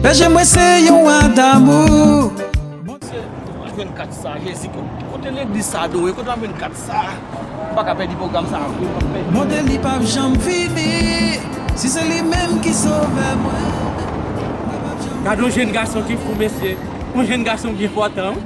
Bèje mwen se yon wa damou. Kote H24 sa jezi kote legliz sa adore kote H24 sa nou paka pèdi pwogram sa vre nou pap pèdi. Bonte li pap janm fini si se li menm ki sovè mwen mwen pap janm fini. Gadon jèn gason ki fou mesye, yon jèn gason byen pòtan wi.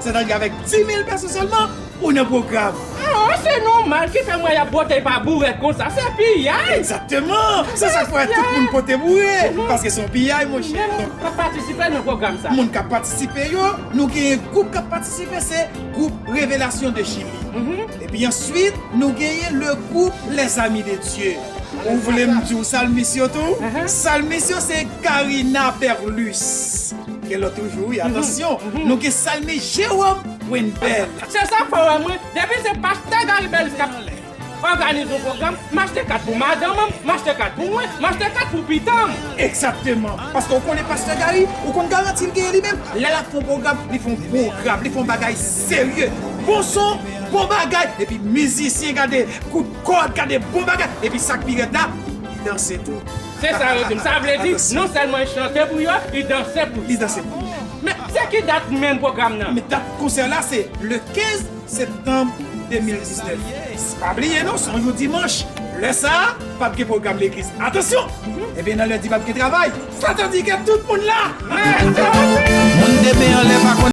Sètadi avèk 10.000 pèson sèlman ou nan pwogram. Aah se nòmal ki fè mwen y ap botey pa bourèt konsa, se piyay! Egzakteman! Se sa k fè tout moun pote boure, paske se yon piyay monchè. Men moun k pa patisipe nan pwogram sa? Moun k ap patisipe yo, nou genyen gwoup k ap patisipe se gwoup Revelasyon de Chili. Epi answit nou genyen le gwoup Les Amis de Dieu. Ou vle m di w salmis yo tou? Salmis yo se Carina Perlus. Gen lòt toujou wi atansyon nou gen salmi Jérôme Wendel. Se sa fè wè mwen depi se pastè Garry Belus kap òganize yon pwogram m achte kat pou madanm m, m achte kat pou mwen, m achte kat pou pitanm. Egzakteman, paske ou konnen pastè Garry ou konn garanti l genyen li menm lè lap fè yon pwogram li fè yon pwogram li fè yon bagay serye bon son bon bagay epi mizisyen gade kout kòd gade bon bagay epi sak pi rèd la li danse tou. Se sa yo di m. Sa vle di, non sèlman li chante pou yo, li danse pou yo. Li danse pou yo. Men, se ki dat menm pwogram nan? Men, dat konsè la se le 15 septanm 2019. Pa bliye non, se yon dimanch. Lè sa a, pap gen pwogram legliz. Atansyon! Ebyen, nan lendi pap gen travay. Sa ta di ke tout moun la! Moun de men anlè pa konn.